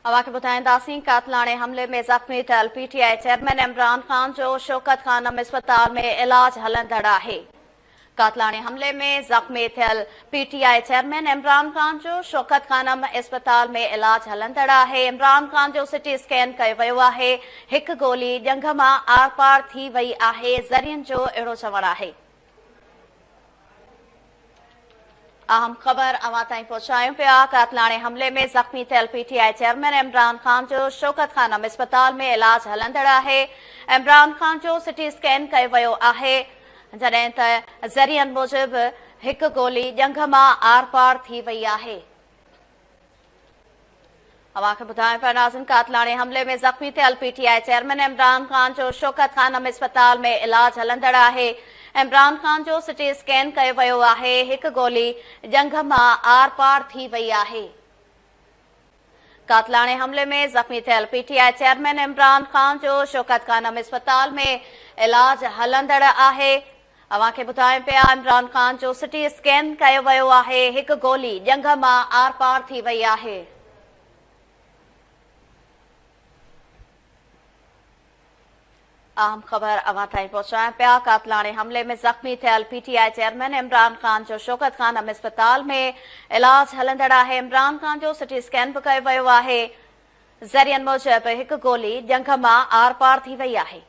اوهان کي ٻڌائينداسين قاتلاڻي حملي ۾ زخمي ٿيل P T I chairman Imran Khan جو شوڪت خانم اسپتال ۾ علاج هلندڙ آهي قاتلاڻي حملي ۾ زخمي ٿيل P T I chairman Imran Khan جو شوڪت خانم اسپتال ۾ علاج هلندڙ آهي عمران خان جو سٽي اسڪين ڪيو ويو آهي هڪ گولي ڄنگهه مان آرپار ٿي وئي آهي ذريعن جو اهڙو چوڻ آهي اهم خبر اوهان تائين پهچايون پيا قاتلاڻي حملي ۾ زخمي ٿيل P T I chairman Imran Khan جو شوڪت خانم اسپتال ۾ علاج هلندڙ آهي عمران خان جو سٽي اسڪين ڪيو ويو آهي جڏهن ته ذريعن موجب هڪ گولي ڄنگهه مان آر پار ٿي وئي آهي اوهان کي ٻڌايون پيا ناظرين قاتلاڻي حملي ۾ زخمي ٿيل P T I chairman Imran Khan جو شوڪت خانم اسپتال ۾ علاج هلندڙ آهي عمران خان جو سٽي اسڪين ڪيو ويو آهي هڪ گولي ڄنگهه مان آر پار ٿي وئي آهي قاتلاڻي حملي ۾ زخمي ٿيل P T I chairman Imran Khan جو شوڪت خانم اسپتال ۾ علاج هلندڙ آهي اوهان کي ٻڌايون پيا عمران خان جو سٽي اسڪين ڪيو ويو آهي هڪ گولي ڄنگهه مان آر پار ٿي وئي آهي. اهم خبر اوهان تائين پهچايون پيا قاتلاڻي حملي ۾ زخمي ٿيل P T I chairman Imran Khan جو شوڪت خانم اسپتال ۾ علاج هلندڙ آهي عمران خان جو سٽي اسڪين به ڪيو ويو آهي ذريعن موجب هڪ گولي ڄنگهه مان آر پار ٿي وئي آهي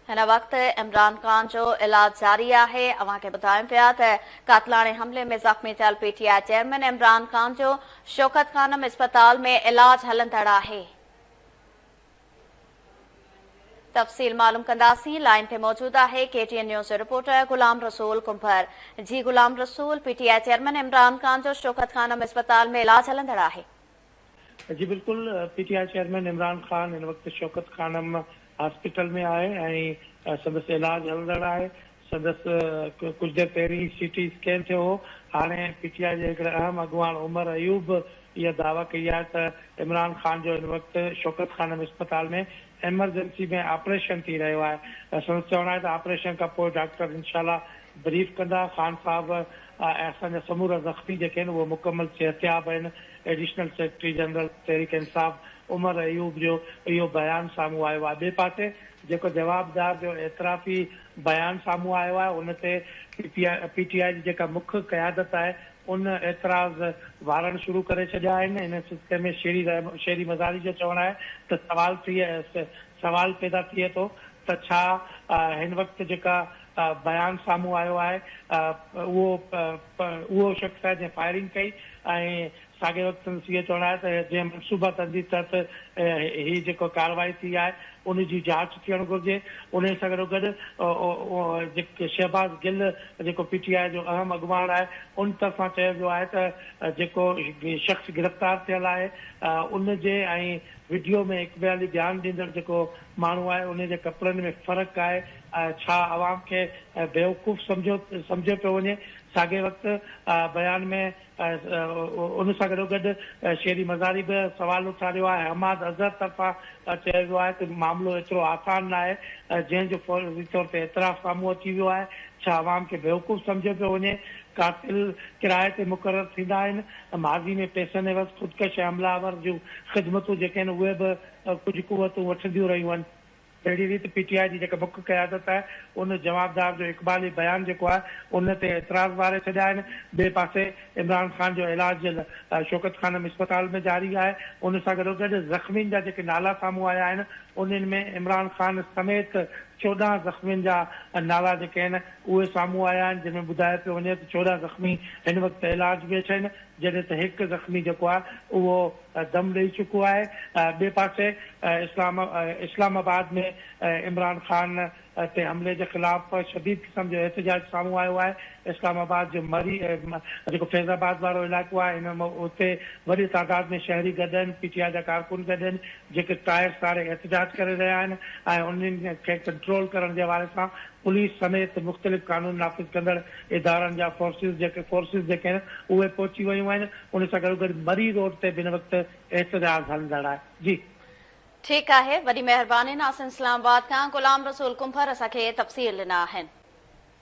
هن وقت عمران خان جو علاج جاري آهي اوهان کي ٻڌايون پيا ته قاتلاڻي حملي ۾ زخمي ٿيل P T I chairman Imran Khan جو شوڪت خانم اسپتال ۾ علاج هلندڙ آهي تفصيل معلوم ڪنداسين لائن تي موجود آهي ڪي ٽي اين نيوز جو رپورٽر غلام رسول ڪنڀر جي Ghulam Rasool P T I chairman Imran Khan جو شوڪت خانم اسپتال ۾ علاج هلندڙ آهي جي بلڪل P T I chairman Imran Khan هن وقت شوڪت خانم هاسپيٽل ۾ آهي ۽ سندس علاج هلندڙ آهي سندس ڪجهه دير پهرين سي ٽي اسڪين ٿيو هو هاڻي پي ٽي آء جي هڪڙي اهم اڳواڻ عمر ايوب به اها دعويٰ ڪئي آهي ته عمران خان جو هن وقت شوڪت خانم اسپتال ۾ ايمرجنسي ۾ آپريشن ٿي رهيو آهي سندس چوڻ آهي ته آپريشن کان پوء ڊاڪٽر انشاء الله بريف ڪندا خان صاحب ۽ اسان جا سمورا زخمي جيڪي آهن اهي مڪمل صحتياب آهن، additional secretary general Tehreek Insaf Omar Ayub جو اهو بيان سامهون آيو آهي، ٻئي پاسي جيڪو جوابدار جو اعترافي بيان سامهون آيو آهي ان تي پي ٽي آء جي جيڪا مک قيادت آهي ان اعتراض وارڻ شروع ڪري ڇڏيا آهن، ان سلسلي ۾ شيري مزاري جو چوڻ آهي ته سوال ٽيهه سوال پيدا ٿئي ٿو ته ڇا هن وقت جيڪا بيان سامهون آيو آهي اهو اهو شخص آهي جنهن فائرنگ ڪئي ۽ ساڳئي وقت سندس اهو چوڻ آهي ته جنهن منصوبه تندي تحت هي جيڪا ڪارروائي ٿي آهي ان جي جاچ ٿيڻ گهرجي انهي سان گڏوگڏ شهباز گل جيڪو پي ٽي آء جو اهم اڳواڻ آهي ان طرفان چيو ويو آهي ته جيڪو شخص گرفتار ٿيل آهي ان جي ۽ وڊيو ۾ اقبالي ڌيان ڏيندڙ جيڪو ماڻهو آهي انهي جي ڪپڙن ۾ فرق آهي ڇا عوام کي بيوقوف سمجهيو سمجهيو پيو وڃي ساڳئي وقت بيان ۾ ان سان گڏو گڏ شيري مزاري به سوال اٿاريو آهي حماد اظهر طرفان چيو ويو آهي ته معاملو ايترو آسان ناهي جنهن جو فوري طور تي اعتراف سامهون اچي ويو آهي ڇا عوام کي بيوقوف سمجهيو پيو وڃي قاتل ڪرايي تي مقرر ٿيندا آهن ته ماضي ۾ پئسن عيوض خودڪش ۽ حمله آور جون خدمتون جيڪي آهن اهي به ڪجهه قوتون وٺنديون رهيون آهن. اهڙي ريت پي ٽي آء جي جيڪا مک قيادت آهي ان جوابدار جو اقبالي بيان جيڪو آهي ان تي اعتراض ٻاري ڇڏيا آهن. ٻئي پاسي عمران خان جو علاج شوڪت خانم اسپتال ۾ جاري آهي. ان سان گڏوگڏ زخمين جا جيڪي نالا سامهون آيا آهن انهن ۾ عمران خان سميت چوڏهن زخمين جا نالا جيڪي آهن اهي سامهون آيا آهن جنهن ۾ ٻڌايو پيو وڃي ته چوڏهن زخمي هن وقت علاج ۾ اڇن جڏهن ته هڪ زخمي جيڪو آهي اهو دم ڏئي چڪو آهي ٻئي پاسي اسلام اسلام آباد ۾ عمران خان تي حملي جي خلاف شديد قسم جو احتجاج سامهون آيو آهي اسلام آباد جو مري جيڪو فيض آباد وارو علائقو آهي ان اتي وڏي تعداد ۾ شهري گڏ آهن پي ٽي آء جا ڪارڪن گڏ آهن جيڪي ٽائر ساڙي احتجاج ڪري رهيا آهن ۽ انهن کي ڪنٽرول ڪرڻ جي حوالي سان پوليس سميت مختلف قانون نافذ ڪندڙ ادارن جا فورسز جيڪي فورسز جيڪي آهن اهي پهچي ويون آهن ان سان گڏوگڏ مري روڊ تي به هن وقت احتجاج هلندڙ آهي جي. ٺيڪ آهي وڏي مهرباني ناصر اسلام آباد کان غلام رسول ڪنڀر اسان کي تفصيل ڏنا آهن.